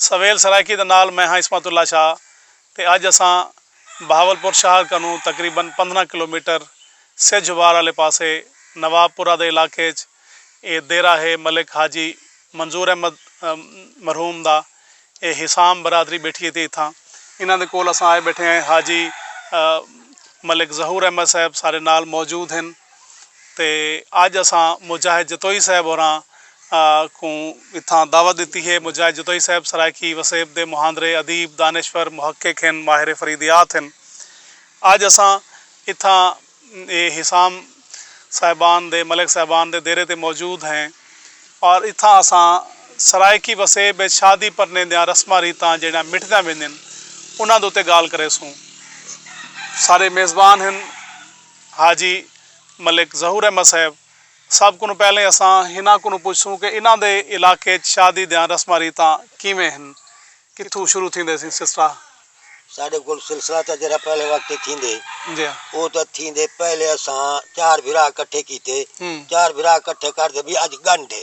سویل سرائیکی دے نال میں ہاں عصمت اللہ شاہ تے اج اساں بہاول پور شہر کنوں تقریبا پندرہ کلومیٹر سجھ وار آلے پاسے نواب پورہ دے علاقے اچ اے دیرہ ہے ملک حاجی منظور احمد مرحوم دا اے حسام برادری بیٹھی تی اتھاں انہاں دے کول اساں آئے بیٹھے ہیں حاجی ملک ظہور احمد صاحب سارے نال موجود ہن۔ تے اج اساں مجاہد جتوئی صاحب ہوراں کوں اتھاں دعوت ڈتی ہے۔ مجاہد جتوئی صاحب سرائیکی وسیب دے مہاندرے، ادیب، دانشور، محقق ہن، ماہر فریدیات ہن۔ اج اساں اتھاں اے حسام صاحبان دے، ملک صاحبان دے دیرے تے موجود ہیں اور اتھاں اساں سرائیکی وسیب اچ شادی پرنیں دیاں رسماں ریتاں جیڑھیاں مٹھدیاں ویندین انہاں دے اتے گالھ کریسوں۔ سارے میزبان ہن۔ حاجی ملک ظہور احمد صاحب سب کنوں پہلے اساں ہناں کنوں پچھسوں کہ انہاں دے علاقے اچ شادی دیاں رسماں ریتاں کیویں ہن؟ کتھوں شروع تھیندے سیں سلسلہ؟ ساڈے کول سلسلہ تاں جیہڑا پہلے وقت اچ تھیندے او تاں تھیندے پہلے اساں چار بھرا کٹھے کیتے چار بھرا کٹھے کر تے وی اج گنڈھ اے۔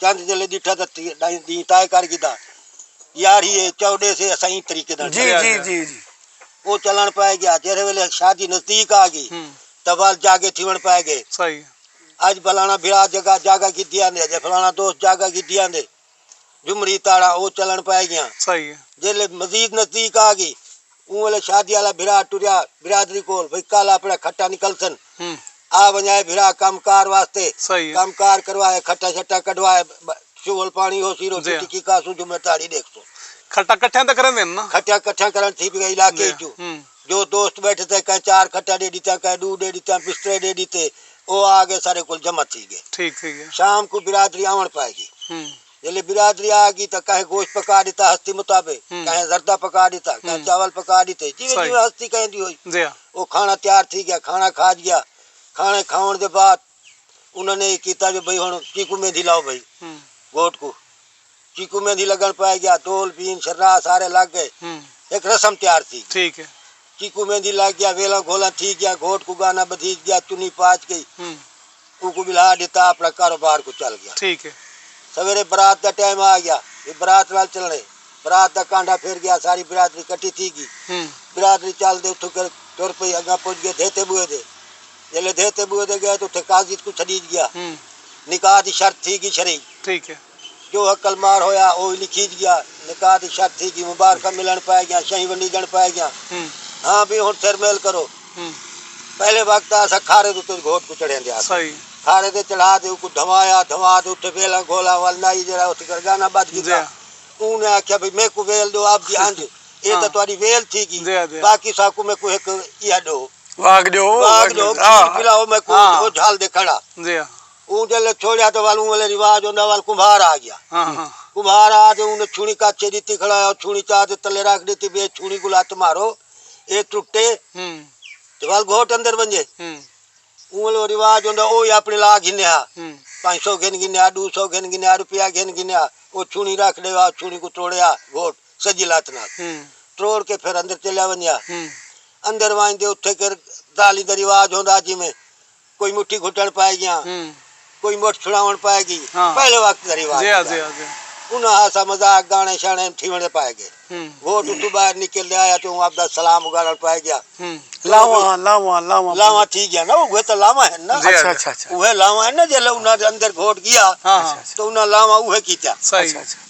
چند جلے ڈٹھا تاں ڈینہہ طے کر گھدا۔ یار ہی اے چو ڈیس اے اساں ایں طریقے نال چلے۔ او چلݨ پئے گیا۔ جیڑھے ویلے شادی نزدیک آ گئی تاں ول جاگے تھیوݨ پئے گئے۔ اڄ فلاݨا بھرا جگہ جاگہ گھدی آندے اڄ فلاݨا دوست جاگہ گھدی آندے۔ جھمری تاڑا او چلݨ پئے گیاں۔ جیڑھے مزید نزدیک آ گئی اوں ویلے شادی آلا بھرا ٹریا برادری کول بھئی کل آپنڑا کھٹا نکلسن آ ونجائے بھرا کم کار واسطے کم کار کروائے کھٹا شٹا کڈھوائے شغل پانڑی ہوسی روٹی ٹکی کھاسوں جمعہ تہاڑی ڈیکھسوں۔ کھٹا کٹھیاں تے کریندین نا۔ کھٹا کٹھا کرنڑ تھی پئی علاقے اچوں جو دوست بیٹھے تھے کہیں چار کھٹا ڈے ڈتیاں کہیں ڈو ڈے ڈتیاں بسترے ڈے ڈتے او آ گئے سارے کول جمع تھی گئے ٹھیک ٹھیک شام کوں برادری آونڑ پائے گی جیلھے برادری آ گی تاں کہیں گوشت پکا ݙتا ہستی مطابق، کہیں زردہ پکا ݙتا، کہیں چاول پکا ݙتے، جیویں جیویں ہستی کہیں دی ہوئی۔ او کھاݨا تیار تھی ڳیا، کھاݨا کھاڄ ڳیا۔ کھاݨے کھاوݨ دے بعد انہاں نے اے کیتا جو بھئی ہݨ چیکو مہندی لاؤ بھئی گھوٹ کوں۔ چیکو مہندی لڳݨ پئے ڳیا، دول، بین، شرناہ سارے لڳ ڳئے۔ ہک رسم تیار تھی ڳئی۔ کیکوں مہندی لگ گیا ویلاں گھولاں تھی گیا گھوٹ کوں گانا بدھیج گیا چنی پاچ گئی اوکوں بلھا ڈتا اپنا کاروبار کوں چل گیا سویرے برات دا ٹائم آ گیا وی برات نال چلنے برات دا کانڈھا پھر گیا ساری برادری کٹھی تھی گی برادری چل دے اتھوں کر ٹر پئی اگاں پج گئے دھیتے بوئے دے جلے دھیتے بوئے دے گئے تو اتھے قاضی کوں چھڈیج گیا نکاح دی شرط تھی گی شرعی۔ جو عقل مار ہویا او وی لکھیج گیا۔ نکاح دی شرط تھی گی۔ مبارکاں ملنڑ پئے گیاں۔ شہیں ونڈیجنڑ پئے گیاں۔ ہاں بھئی ہنڑ سر میل کرو۔ پہلے وقت آ اساں کھارے دے اتے گھوٹ کوں چڑھیندے ہاسے۔ کھارے تے چڑھا تے اوکوں دھوایا۔ دھوا تے اتے ویلاں گھولاں ول نائی جیہڑا اٹھ کر گانا بدھ کیتا۔ اوں نے آکھیا بھئی میکوں ویل ڈیو آپ دی انج اے تاں تہاڈی ویل تھی گی۔ باقی ساکوں میکوں ہک ایہا ڈو۔ واگ ڈیو۔ واگ ڈیو کھیر پلاؤ میکوں او جھل دے کھڑا۔ اوں جلے چھوڑیا تے ول اوں ویلے رواج ہوندا ول کمبھار آ گیا کمبھار آ تے اوں نے چھوڑی کاچے ڈتی کھڑا ہویا او چھوڑی چا تے تلے رکھ ڈتی بھئی اے چھوڑی کوں لت مارو اے ٹٹے تے ول گھوٹ اندر ونجے اوں ویلے او رواج ہوندا او ہی اپنی لا گھنے ہا پنج سو گھن گھنے ہا ڈو سو گھن گھنے ہا روپیہ گھن گھنے ہا او چھوڑی رکھ ڈے او چھوڑی کوں تروڑے ہا گھوٹ سجی لت نال تروڑ کے پھر اندر چلیا ونجے ہا اندر ونج تے اتھے کر دالی دا رواج ہوندا جویں۔ کوئی مٹھی گھٹݨ پائے گیاں کوئی مٹھ چھڑاوݨ پائے گی پہلے وقت دا رواج ہوندا انہاں ہاسا مذاق گاݨے شاݨے تھیوݨ دے پائے گے ووٹ اتوں ٻاہر نکل تے آیا تے اوں آپدا سلام اگاڑݨ پائے گیا لاواں لاواں لاواں لاواں تھی گیاں نا اوہے تاں لاواں ہن نا اوہے لاواں ہن نا جیلھے انہاں دے اندر ووٹ گیا تاں انہاں لاواں اوہے کیتیاں۔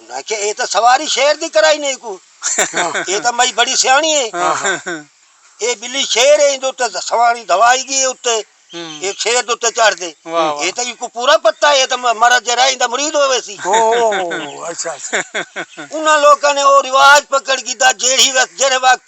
انہاں آکھیا اے تاں سواری شیر دی کرائی نئیں کو اے تاں مئی بڑی سیاݨی اے اے ٻلی شیر اے ایندے اتے سواری دھوائی گی اتے اے شیر دے اتے چڑھ دے اے تاں اینکوں پورا پتہ اے تاں مرا جیرا ایندا مرید ہووے سی انہاں لوکاں نے او رواج پکڑ گھیدا جیڑھی وقت جیڑھے وقت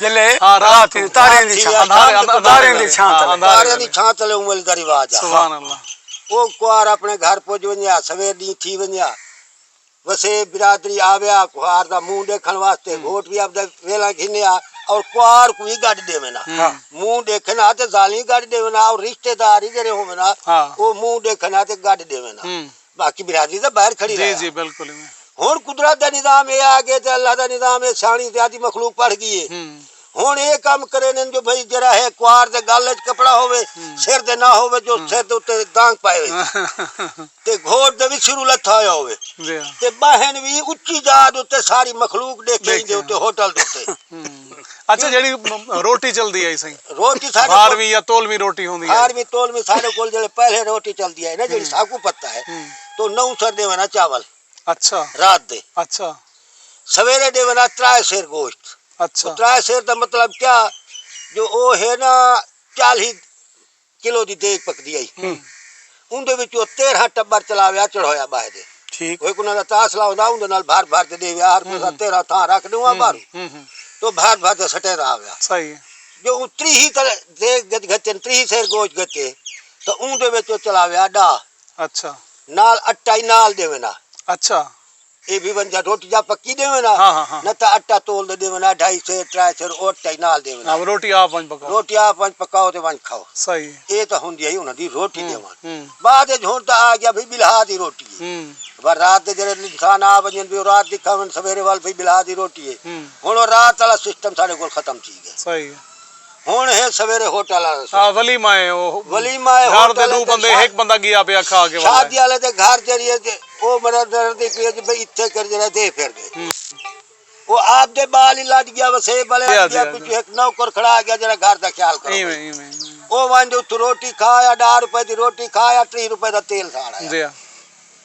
جیلے رات تھی تاریاں دی چھاں تلے تاریاں دی چھاں تلے تاریاں دی چھاں تلے اوں ویلے دا رواج ہے سبحان اللہ او کوار اپنے گھر پج ونجیا سویر ڈی تھی ونجیا وسے برادری آویا کوار دا منہ ڈیکھن واسطے گھوٹ بھی اپ دے ویلا گھنیا اور کوار کو ہی گڈ دے وینا منہ ڈیکھن آتے زالی گڈ دے وینا اور رشتہ دار ہی جڑے ہو وینا او منہ ڈیکھن آتے گڈ دے وینا باقی برادری تاں باہر کھڑی رہے ہا۔ ہنڑ قدرت دا نظام اے آگے تے اللہ دا نظام اے سیاݨی زیادی مخلوق پڑھ گی اے۔ ہنڑ اے کم کرینن جو بھئی جیہڑا ہے کوار دے گل اچ کپڑا ہووے سر دے نہ ہووے جو سر دے اتے دانگ پائے ہوئے تے گھوٹ دے وی سروں لتھا ہویا ہووے تے ٻاہیں وی اچی جاہ دے اتے ساری مخلوق ݙیکھے ایندے اتے ہوٹل دے اتے اچھا جیڑی روٹی چلدی ہے سائیں روٹی ساڈے بھارویں یا تولویں روٹی ہوندی ہے بھارویں تولویں ساڈے کول جڑے پہلے روٹی چلدی ہے نا جڑی ساکوں پتہ ہے تو نو سر دیوے نا چاول اچھا رات دے اچھا سویرے دیوے نا ترائے سیر گوشت اچھا ترائے سیر دا مطلب کیا جو او ہے نا چالی کلو دی دیگ پکدی ہئی۔ اوندے وچوں او تیرھاں ٹٻر چلا ویا چڑھویا ٻاہہ دے۔ ٹھیک۔ ہک انہاں دا تاسلا ہوندا اوندے نال بھر بھر تے ݙے ویا ہر کوئی تیرھاں تھاں رکھ ݙیواں ٻاہروں تے او بھر بھر تے سٹیندا آ ویا۔ صحیح ہے۔ جو اوں تریہی تر دیگ گھتن تریہی سیر گوشت گھتے تاں اوندے وچ او چلا ویا ݙاہ۔ اچھا۔ نال اٹا ہی نال ݙیوندا۔ اچھا۔ اے وی ونجا روٹی جا پکی ڈیون ہاں ہاں ہاں نہ تاں اٹا تول دے ڈیون ہاں ڈھائی سیر ترائے سیر او اٹا ہی نال ڈیون ہاں روٹی آپ ونج پکاؤ روٹی آپ ونج پکاؤ تے ونج کھاؤ صحیح اے تاں ہوندی ہئی انہاں دی روٹی ڈیون بعد اچ ہن تاں آ گیا بھئی بلہا دی روٹی اے ور رات دے جڑے انسان آ ونجن بھئی او رات دی کھاون سویرے وال بھئی بلہا دی روٹی اے ہن او رات آلا سسٹم ساڈے کول ختم تھی گیا صحیح۔ ہن ہے سویرے ہوٹل آلے سوں۔ ولیمہ اے او ولیمہ اے گھر دے ݙو بندے ہک بندہ گیا پیا کھا کے ولے۔ شادی آلے دے گھر جیڑھی اے تے او مرا ݙردی پی اے جی بھئی اتھے کر جیڑھا دے پھر دے۔ او آپ دے بال ہی لٹ گیا وسے بلے آ گیا پچھو ہک نوکر کھڑا گیا جیڑھا گھر دا خیال کرو۔ ایویں ایویں۔ او ونج اتھوں روٹی کھا آیا ݙاہ روپے دی روٹی کھا آیا ٹری روپے دا تیل ساڑ آیا۔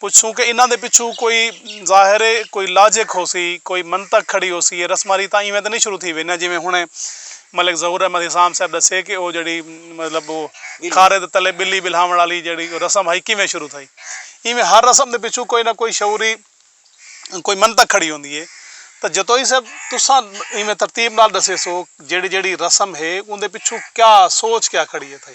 پچھوں کہ انہاں دے پچھوں کوئی ظاہر ہے کوئی لاجک ہوسی، کوئی منطق کھڑی ہوسی اے رسماں ریتاں ایویں تاں نئیں شروع تھی وینیاں جیویں ہنڑے ملک ظہور احمد حسام صاحب ڈسے کہ او جیڑھی مطلب او کھارے دے تلے بلی بلہاونڑ آلی جیڑھی رسم ہئی کیویں شروع تھئی ایویں ہر رسم دے پچھوں کوئی نہ کوئی شعوری کوئی منطق کھڑی ہوندی اے تاں جتوئی صاحب تساں ایویں ترتیب نال ڈسیسو جیڑھی جیڑھی رسم ہے اوندے پچھوں کیا سوچ کیا کھڑی ہے تھئی۔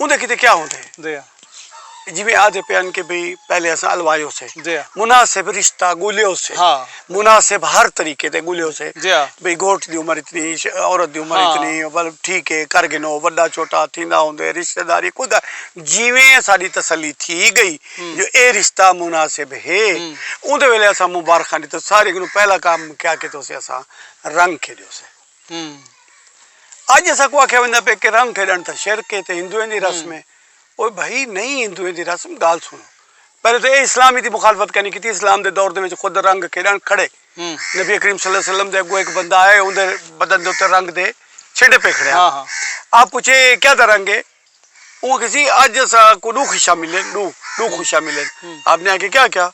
اوندے کیتے کیا ہوندے جی جیویں آدھے پے ہن کہ بھئی پہلے اساں الوائے ہوسے جی مناسب رشتہ گولے ہوسے ہاں مناسب ہر طریقے تے گولے ہوسے جی بھئی گھوٹ دی عمر اتنی عورت دی عمر اتنی ول ٹھیک ہے کر گنو وڈا چھوٹا تھیندا ہوندے رشتہ داری خود جیویں ساڈی تسلی تھی گئی جو اے رشتہ مناسب ہے اوندے ویلے اساں مبارخاں ڈیتو سارے کنوں پہلا کام کیا کیتے ہوسے اساں رنگ کھیڈے ہوسے اڄ اساں کوں آکھیا ویندا پئے کہ رنگ کھیڈݨ تاں شرک اے تے ہندوئیں دی رسم اے او بھئی نہیں ہندوئیں دی رسم گال سنڑو پہلے تاں اے اسلام دی مخالفت کینی کیتی اسلام دے دور دے وچ خود رنگ کھیڈݨ کھڑے نبی کریم صلی اللہ علیہ وسلم دے اگوں ہک بندہ آئے اوندے بدن دے اوتے رنگ دے چھنڈے پئے کھڑے ہن آپ پوچھے اے کیا دا رنگ اے اوکھسی اج اساں کوں ݙو خوشیاں ملین ݙو ݙو خوشیاں ملین آپ نے آکھیا کیا کیا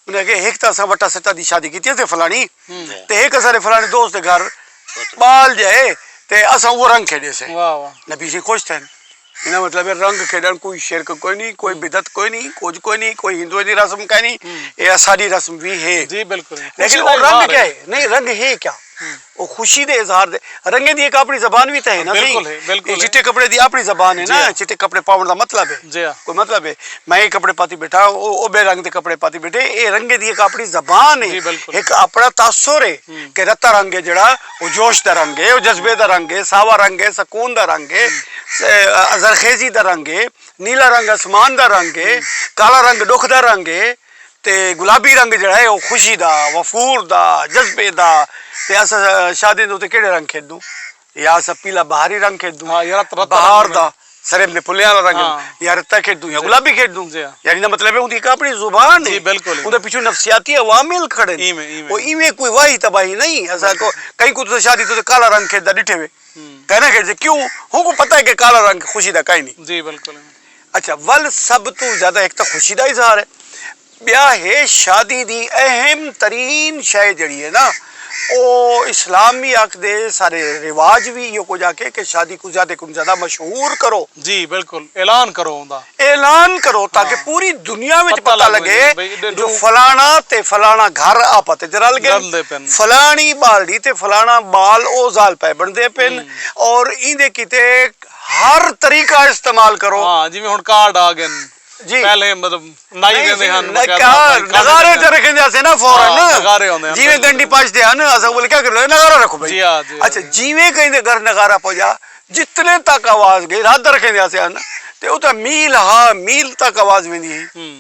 انہیں آکھیا ہک تاں اساں وٹا سٹا دی شادی کیتی اسے فلانی تے ہک اساں دے فلانے دوست دے گھر بال جائے تے اساں وہ رنگ کھیڈے سے نبی سے خوش تھے انہاں مطلب ہے رنگ کھیڈن کوئی شرک کوئی نہیں کوئی بدعت کوئی نہیں کچھ کوئی نہیں کوئی ہندو دی رسم کوئی نہیں اے اساڈی رسم بھی ہے جی بالکل لیکن وہ رنگ کیا ہے نہیں رنگ ہے کیا او خوشی دے اظہار دے رنگیں دی ایک اپنی زبان وی تاں ہے نا سہی بالکل ہے بالکل ہے چٹے کپڑے دی اپنی زبان ہے نا چٹے کپڑے پاون دا مطلب ہے جی ہاں کوئی مطلب ہے میں اے کپڑے پاتی بیٹھا او او بے رنگ دے کپڑے پاتی بیٹھے اے رنگیں دی ایک اپنی زبان ہے ایک اپنا تاثر ہے کہ رتا رنگ ہے جڑا او جوش دا رنگ ہے او جذبے دا رنگ ہے ساوا رنگ ہے سکون دا رنگ ہے زرخیزی دا رنگ ہے نیلا رنگ اسمان دا رنگ ہے کالا رنگ ڈکھ دا رنگ ہے تے گلابی رنگ جیڑا ہے او خوشی دا وفور دا جذبے دا تے اساں شادیاں دے اوتے کیڑے رنگ کھیڈدوں یا اساں پیلا بہاری رنگ کھیڈدوں بہار دا سریب دے پھلیاں دا رنگ یا رتا کھیڈدوں یا گلابی کھیڈدوں یعنی دا مطلب ہے اوندی ہک اپنی زبان ہے اوندے پچھوں نفسیاتی عوامل کھڑے او ایویں کوئی واہی تباہی نہیں اساں کو کہیں کوں تساں شادی تے کالا رنگ کھیڈدا ڈٹھے وے کائناں کھیڈسے کیوں ہوں کوں پتہ ہے کہ کالا رنگ خوشی دا کائنی۔ اچھا ول سب توں زیادہ ہک تاں خوشی دا اظہار ہے ٻیا ہے شادی دی اہم ترین شے جیڑھی ہے نا او اسلام وی آکھدے سارے رواج وی ایہو کجھ آکھے کہ شادی کوں زیادہ کوں زیادہ مشہور کرو جی بالکل اعلان کرو اوندا اعلان کرو تاکہ پوری دنیا وچ پتہ لگے جو فلانا تے فلانا گھر آپت وچ رل گئن فلانی ٻالڑی تے فلانا ٻال او ذال پئے بݨدے پن اور ایندے کیتے ہر طریقہ استعمال کرو۔ ہاں جیویں ہن کارڈ آ گئن۔ جی پہلے مطلب نائی ویندے ہن۔ نغارے تے رکھیں جاتے نا فورا نا۔ ہاں نغارے ہوندے ہن۔ جیویں گنڈی پاج دے ہن اساں بولے کیا کرو نغارہ رکھو بھائی۔ جی ہاں جی ہاں۔ اچھا جیویں کہیں دے گھر نغارہ پوجا جتنے تک آواز گئی رادھا رکھیں دے آتے ہن تے اتھا میل ہا میل تک آواز ویندی ہی۔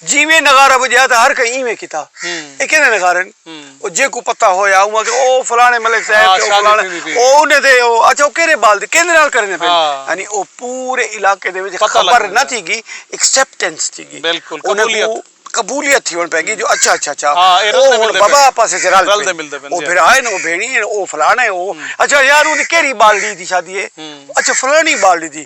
جیویں نغارہ بجایا تھا ہر کہیں ایویں کیتا۔ ہوں۔ ایہ کیندے نغارے ہن۔ او جیکوں پتہ ہویا اوہاں کہ او فلانے ملک صاحب تے او فلانے او انہیں دے او اچھا او کیرے بال دے کیندے نال کرنے پے یعنی او پورے علاقے دے وچ خبر نہ تھی گی ایکسپٹنس تھی گی قبولیت قبولیت تھی ہن پے گی جو اچھا اچھا اچھا او ہن بابا آپس وچ رل پے او بھرا ہن او بھینڑی ہن او فلانے او اچھا یار اون دی کیری بالڑی دی شادی ہے اچھا فلانی بالڑی دی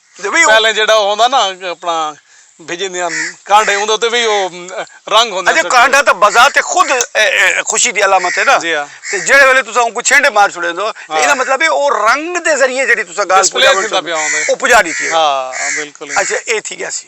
پہلے جیڑھا او ہوندا نا اپنا بھجیندیاں کانڈھے اوندے اتے وی او رنگ ہوندے۔ اچھا کانڈھا تاں بذات خود خوشی دی علامت ہے نا تے جیڑھے ویلے تساں اونکوں چھینڈے مار چھوڑیندو ایندا مطلب ہے او رنگ دے ذریعے جیڑھی تساں گالھ پجاوݨ چاہندے او پجا ݙتی ہے۔ ہاں بالکل۔ اچھا اے تھی ڳیا سی۔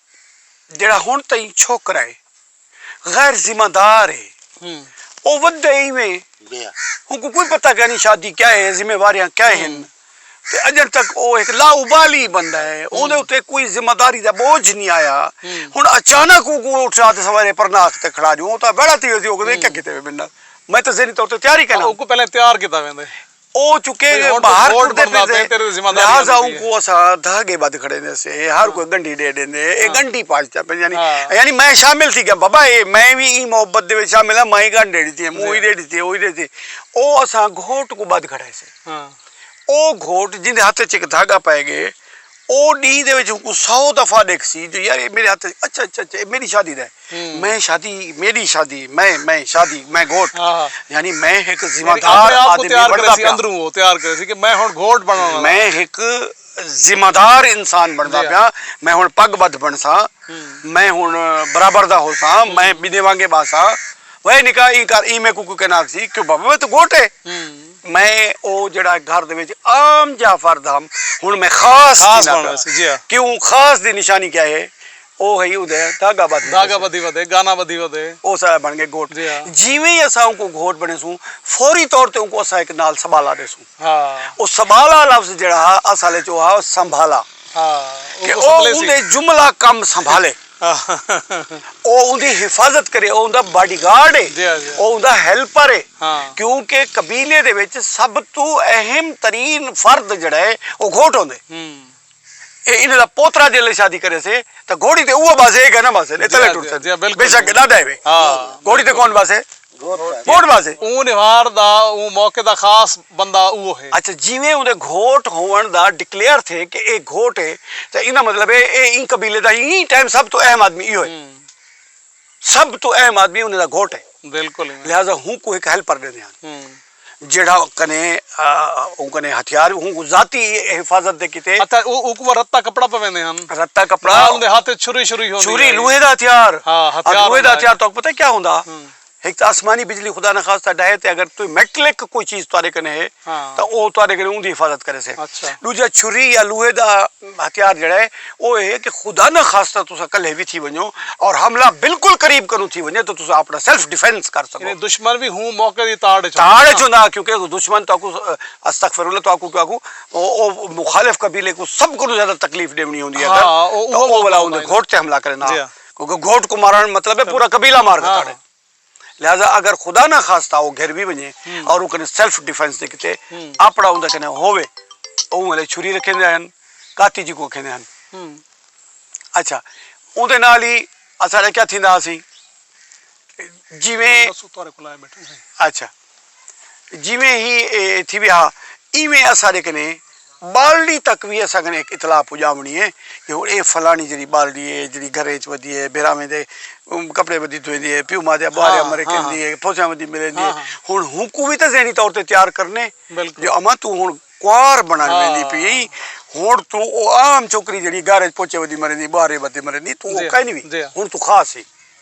جیڑھا ہنڑ تئیں چھوکرا ہے غیر ذمہ دار ہے او ودے ایویں اونکوں کوئی پتہ کائنی شادی کیا ہے ذمہ واریاں کیا ہن تے اجنڑ تک او ہک لا ابالی بندہ ہے اوندے اتے کوئی ذمہ داری دا بوجھ نی آیا ہنڑ اچانک اونکوں اٹھا تے سویرے پرناک تے کھڑا ڈیوں او تاں ویڑھا تھی ویسی او کہندے اے کیا کیتے وے میڈے نال میں تاں ذہنی طور تے تیار ای کائنی۔ ہاں اونکوں پہلے تیار کیتا ویندے۔ او چکے گے باہر ٹردے پھردے لہذا اوں کو اساں دھاگے بدھ کھڑیندے سے ہر کوئی گنڈی ڈے ڈیندے اے گنڈی پاجتا پے یعنی یعنی میں شامل تھی گیا بابا اے میں وی ایں محبت دے وچ شامل ہاں مائیں گنڈ ڈے ڈتی موں ہی ڈے ڈتی او ہی ڈے ڈتی او اساں گھوٹ کو بدھ کھڑائے سے او گھوٹ جیندے ہتھ وچ ہک دھاگا پے گے او ڈینہہ دے وچ اونکوں سو دفعہ ڈیکھسی جو یار اے میڈے ہتھ اچ اچھا اچھا اچھا اے میڈی شادی دا ہے میں شادی میڈی شادی میں میں شادی میں گھوٹ یعنی میں ہک ذمہ دار آدمی بنڑدا پیا اندروں او تیار کرسی کہ میں ہن گھوٹ بنڑن آلا میں ہک ذمہ دار انسان بنڑدا پیا میں ہن پگ بدھ بنڑساں میں ہن برابر دا ہوساں میں بنڑے وانگے بہساں وے نکا ایں کر ایں میکوں کوئی کہنا آکھسی کہ بابا میں تاں گھوٹ اے۔ میں او جیڑھا گھر دے وچ عام جاہ فرد ہم ہن میں خاص خاص بن ویسی جی ہا کیوں خاص دی نشانی کیا ہے او ہئی اودے دھاگا بدھ دھاگا بدھی ودے گانا بدھی ودے او سارا بن گئے گھوٹ جی ہا جیویں ہی اساں اونکوں گھوٹ بنے سوں فوری طور تے اونکوں اساں ہک نال سبالا دے سوں ہا او سبالا لفظ جیڑھا ہا اصل وچ او ہا سنبھالا ہا کہ او اوندے جملہ کم سنبھالے۔ او اوندی حفاظت کرے، او اوندا باڈی گارڈ اے، او اوندا ہیلپر اے، کیونکہ قبیلے دے وچ سب توں اہم ترین فرد جیڑھا اے او گھوٹ ہوندے۔ اے انہاں دا پوترا جیلھے شادی کریسے تاں گھوڑی تے اوہو بہسے اے کائناں بہسن، اے تلے ٹرسن، بے شک اے ݙاڈا اے وے، گھوڑی تے کون بہسے؟ گھوٹ واسطے۔ اوں نوہار دا اوں موقع دا خاص بندہ اوہو ہے۔ اچھا جیویں اوندے گھوٹ ہووݨ دا ڈکلیئر تھے کہ اے گھوٹ ہے تاں ایندا مطلب ہے اے ایں قبیلے دا ایں ٹائم سب توں اہم آدمی ایہو ہے۔ سب توں اہم آدمی انہیں دا گھوٹ ہے۔ بالکل۔ لہذا ہونکوں ہک ہیلپر ݙیندے ہن۔ جیڑھا کنے اوں کنے ہتھیار اوں کوں ذاتی حفاظت دے کیتے۔ اتے اوں کوں رتا کپڑا پویندے ہن۔ رتا کپڑا۔ نال اوندے ہتھ وچ چھری شری ہوندی۔ چھری لوہے دا ہتھیار۔ ہاں ہتھیار ہوندا۔ لوہے دا ہتھیار تہاکوں پتہ کیا ہوندا۔ ہک تاں آسمانی بجلی خدا نخواستہ ڈاہے تے اگر توں میٹلک کوئی چیز تہاڈے کنے ہے تاں اوہ تہاڈے کنے اوندی حفاظت کریسے۔ اچھا۔ ڈوجھا چھری یا لوہے دا ہتھیار جیڑھا ہے او اے کہ خدا نہ خاصتا تساں کلھے وی تھی ونجو اور حملہ بالکل قریب کنوں تھی ونجے تاں تساں اپنا سیلف ڈیفنس کر سکو۔ یعنی دشمن وی ہوں موقع دی تاڑ اچ ہوندا۔ تاڑ اچ ہوندا کیونکہ دشمن تہاکوں استغفر اللہ تہاکوں کیا آکھوں او مخالف قبیلے کوں سب کنوں زیادہ تکلیف ڈیونی ہوندی ہے اگر تاں او ولا اوندے گھوٹ تے حملہ کرے نا کیونکہ گھوٹ کوں مارݨ مطلب ہے پورا قبیلہ مار گھتاڑے۔ لہذا اگر خدا نہ خواستہ او گھر وی ونجے اور او کنے سیلف ڈیفنس دے کیتے اپڑا اوندے کنے ہووے اوں ولے چھری رکھیندے ہن کاتی جیکوں اکھیندے ہن اچھا اوندے نال ہی اساڈا کیا تھیندا ہاسی جیویں اچھا۔ جیویں ہی اے ایتھی وی ہا ایویں اساڈے کنے بالڈی تک وی اساں کنے ہک اطلاع پجاونڑی اے کہ ہن اے فلانڑی جیڑی بالڈی اے جیڑی گھریں اچ ودی اے بیراویں دے کپڑے ودی دھویندی اے پیو ماں دے ابواریا مرے کیندی اے پھوسیاں ودی ملیندی اے ہن ہونکوں وی تاں ذہنی طور تے تیار کرنے جو اماں توں ہن کنوار بنڑ ویندی پی ایں ہن توں او عام چھوکری جیڑی گھر اچ پوچے ودی مریندی ابوارے ودی مریندی توں او کائنی وی ہن توں خاص ایں۔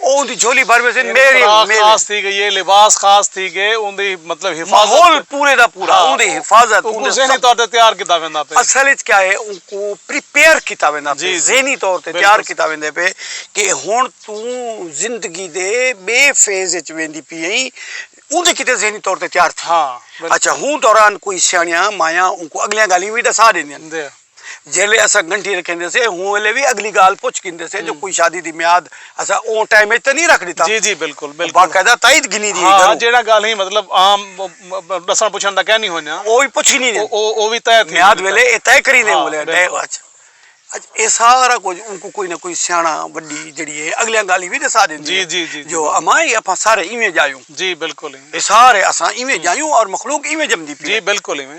اوندی جھولی بھر ویسی میوے میوے۔ خوراک خاص تھی گئی ہے، لباس خاص تھی گئے، اوندی مطلب حفاظت۔ ماحول پورے دا پورا اوندی حفاظت۔ اوکوں ذہنی طور تے تیار کیتا ویندا پئے۔ اصل اچ کیا ہے اوکوں پریپیئر کیتا ویندا پئے ذہنی طور تے تیار کیتا ویندے پئے کہ ہن توں زندگی دے بے فیز اچ ویندی پی ایں اوندے کیتے ذہنی طور تے تیار تھے۔ اچھا ہوں دوران کوئی سیانیاں مایاں اوکوں اگلیاں گالیاں وی ڈسا ڈیندیاں۔ جیلے اساں گھنٹی رکھیندے سے ہوں ویلے وی اگلی گال پچھ گھندے سے جو کوئی شادی دی میاد اساں اوں ٹائم اچ تے نہیں رکھ ڈتا جی جی بالکل بالکل باقاعدہ تائید گھنی دی ہاں جیڑا گال ہی مطلب عام ڈسن پچھن دا کہنی ہونیا او وی پچھ گھنی او او وی طے تھی میاد ویلے اے طے کری دے بولے ڈے اچ اچ اے سارا کچھ اوں کو کوئی نہ کوئی سیاںا وڈی جڑی اے اگلیاں گال ہی وی دسا دے جی جی جی جو اماں اے اپاں سارے ایویں جایوں جی بالکل اے سارے اساں ایویں جایوں اور مخلوق ایویں جمدی پی جی بالکل ایویں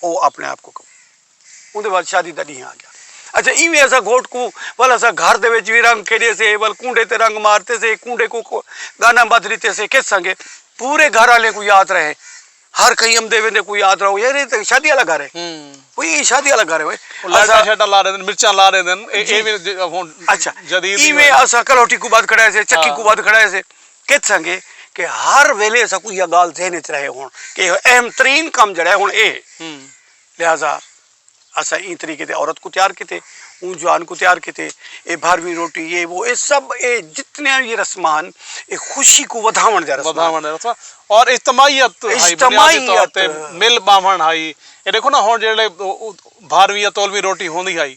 او اپنے آپ کو کم اوندے بعد شادی دا ڈینہہ آ گیا اچھا ایویں اسا گھوٹ کو ول اسا گھر دے وچ وی رنگ کھیڈے سے ول کونڈے تے رنگ مارتے سے کونڈے کو گانا بدھ لیتے سے کس سنگے پورے گھر والے کو یاد رہے ہر کہیں امدے ویندے کو یاد رہو یار یہ تے شادی والا گھر ہے کوئی یہ شادی والا گھر ہے اوئے لائٹاں شیٹاں لا دین مرچاں لا دین اے وی ہن اچھا جدید ایویں اسا کلوٹی کو بعد کھڑائے سے چکی کو بعد کھڑائے سے کیت سانگے کہ ہر ویلے اساں کو یہ گال ذہن اچ رہے ہون کہ یہ اہم ترین کم جڑا ہے ہون اے ہے لہذا اساں ایں طریقے تے عورت کو تیار کیتے اوں جوان کو تیار کیتے اے بھارویں روٹی یہ وہ اے سب اے جتنے یہ رسمان اے خوشی کو ودھاون دے رسمان ودھاون دے رسمان اور اجتماعیت اجتماعیت مل باون ہائی اے دیکھو نا ہون جڑے بھارویں یا تولویں روٹی ہوندی ہائی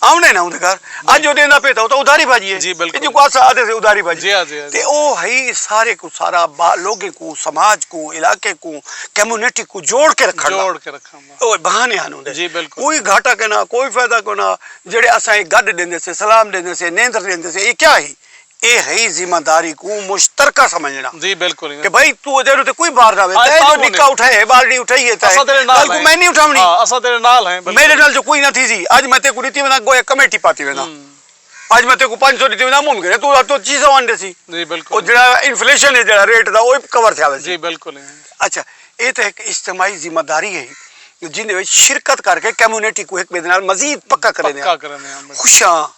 آوندے نہ اوندے گھر اج او ڈیندا پئے تاں او تاں ادھاری بھاجی ہے اے جیکوں اساں آکھدے سے ادھاری بھاجی تے او ہئی سارے کوں سارا لوگیں کوں سماج کوں علاقے کوں کمیونٹی کوں جوڑ کے رکھݨ دا او بہانے ہن اوندے کوئی گھاٹا کینا کوئی فائدہ کونا جیڑھے اساں اے گڈ ڈیندے سے سلام ڈیندے سے نیندر ڈیندے سے اے کیا ہی۔ اے ہئی ذمہ داری کوں مشترکہ سمجھݨا جی بالکل کہ بھائی تو اے دے تے کوئی بار نہ وے تاں جو نکا اٹھا ہے بالڑی اٹھائی ہے تاں کل کو میں نہیں اٹھاونی ہاں اساں تیرے نال ہیں میرے نال جو کوئی نہ تھی سی اج میں تے کو ڈتی وینداں گویا کمیٹی پاتی وینداں اج میں تے کو پنج سو ڈتی وینداں ممکن ہے تو تو چیزاں ون دے سی جی بالکل او جڑا انفلیشن ہے جڑا ریٹ دا او کور تھیا ویسی جی بالکل اچھا اے تے ایک اجتماعی ذمہ داری ہے جن وچ شرکت کر کے کمیونٹی کو ایک بے نال مزید پکا کریندے ہیں خوشاں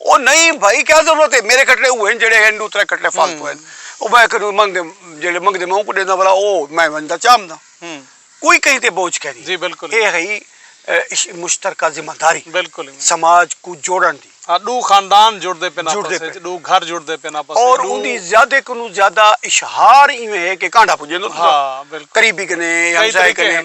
او نئیں بھائی کیا ضرورت ہے میرے کٹڑے اوہن جڑے ہن ڈو ترے کٹڑے فالتو ہن او میں اک نو منگ دے جڑے منگ دے میں اونکو ڈیندا بھلا او میں ونجدا چامدا کوئی کہیں تے بوجھ کینی جی بالکل اے ہئی مشترکہ ذمہ داری بالکل سماج کو جوڑن دی ہاں ڈو خاندان جڑ دے پن آپس وچ ڈو گھر جڑ دے پن آپس وچ اور اوندی زیادہ کنوں زیادہ اشہار ایویں ہے کہ کانڈا پجے ہاں بالکل قریبی کنے ہمسائے کنے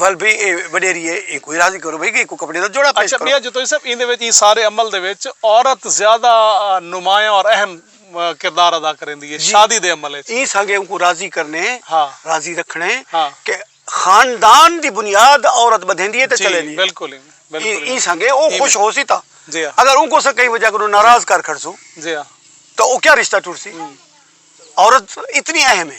ول بھئی اے وڈیری اے اینکوں ہی راضی کرو بھئی کہ اینکوں کپڑے دا جوڑا پیش کرو۔ اچھا ٻیا جتوئی صاحب ایندے وچ ایں سارے عمل دے وچ عورت زیادہ نمایاں اور اہم کردار ادا کریندی اے شادی دے عمل وچ۔ ایں سانگے اونکوں راضی کرنے راضی رکھنے کہ خاندان دی بنیاد عورت بدھیندی اے تے چلیندی اے۔ بالکل ایویں بالکل ایویں ایں سانگے او خوش ہوسی تاں اگر اونکوں اساں کہیں وجہ کنوں ناراض کر کھڑسوں تاں او کیا رشتہ ٹرسی عورت اتنی اہم اے۔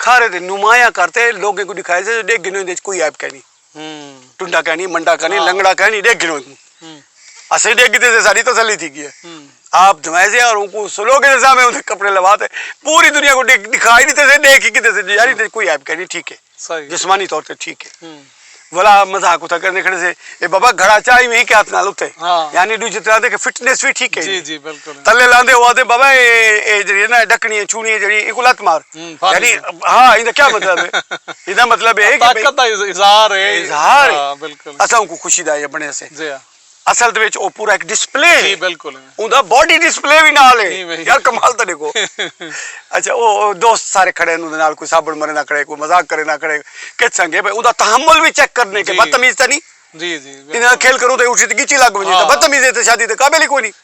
کھارے تے نمایاں کر تے لوگیں کوں ݙکھائے سے جو ݙیکھ گھنو ایندے وچ کوئی عیب کینی ٹنڈا کینی منڈا کینی لنگڑا کینی ݙیکھ گھنو کوں اسیں ݙیکھ گھدے سے ساݙی تسلی تھی ڳی ہے آپ دھوئیں سے اور اوکوں سلو کے سامنے اوندے کپڑے لوا تے پوری دنیا کوں ݙکھا ہی ݙتے سے ݙیکھ ہی گھدے سے یار ایندے وچ کوئی عیب کینی ٹھیک ہے جسمانی طور تے ٹھیک ہے ولا مذاق اتھا کرنے کھڑے سے اے بابا گھڑا چاہ ہی کے ہاتھ نال اتے یعنی دو جتنا دے کہ فٹنس بھی ٹھیک ہے جی جی بالکل تلے لاندے ہوا دے بابا اے اے جڑی نا ڈکنی چونی جڑی اے کو لت مار یعنی ہاں ایندا کیا مطلب ہے ایندا مطلب ہے کہ طاقت دا اظہار ہے اظہار بالکل اساں کو خوشی دا یہ بنے سے جی ہاں اصل دے وچ او پورا ہک ڈسپلے ہے جی بالکل اوندا باڈی ڈسپلے وی نال ہے یار کمال تاں ڈیکھو اچھا او دوست سارے کھڑے ہن اوندے نال کوئی سابݨ مریندا کھڑے کوئی مذاق کریندہ کھڑے کچھ سانگے بھئی اوندا تحمل وی چیک کرݨے کہ بدتمیز تاں نہیں جی جی انہاں کھیل کروں تے اٹھی تے گچی لگ ونجے تاں بدتمیز ہے تے شادی دے قابل ہی کوئی نہیں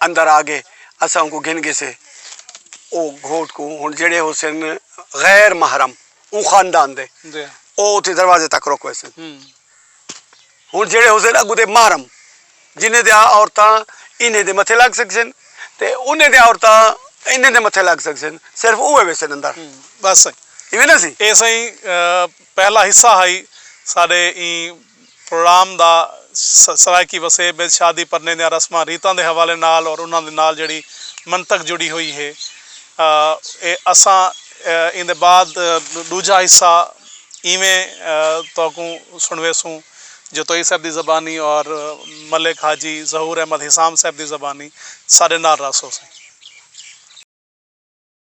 اندر آ گئے اساں اونکوں گھن گھسے او گھوٹ کوں ہن جیڑھے ہوسن غیر محرم اوں خاندان دے او اتھے دروازے تک رک ویسن ہن جیڑھے ہوسن اگوں دے محرم جنہیں دیاں عورتاں انہیں دے متھے لگ سکسن تے انہیں دیاں عورتاں انہیں دے متھے لگ سکسن صرف اوہے ویسن اندر بس ایویں نہ سی اے سائیں۔ پہلا حصہ ہئی ساڈے ایں پروڑام دا سرائیکی وسیب اچ شادی پرنے دیاں رسماں ریتاں دے حوالے نال اور انہاں دے نال جیڑھی منطق جڑی ہوئی ہے اے اساں ایندے بعد ڈوجھا حصہ ایویں تہاکوں سنڑویسوں جو توئی صاحب دی زبانی اور ملک حاجی ظہور احمد حسام صاحب دی زبانی ساڈے نال رہسو سئیں۔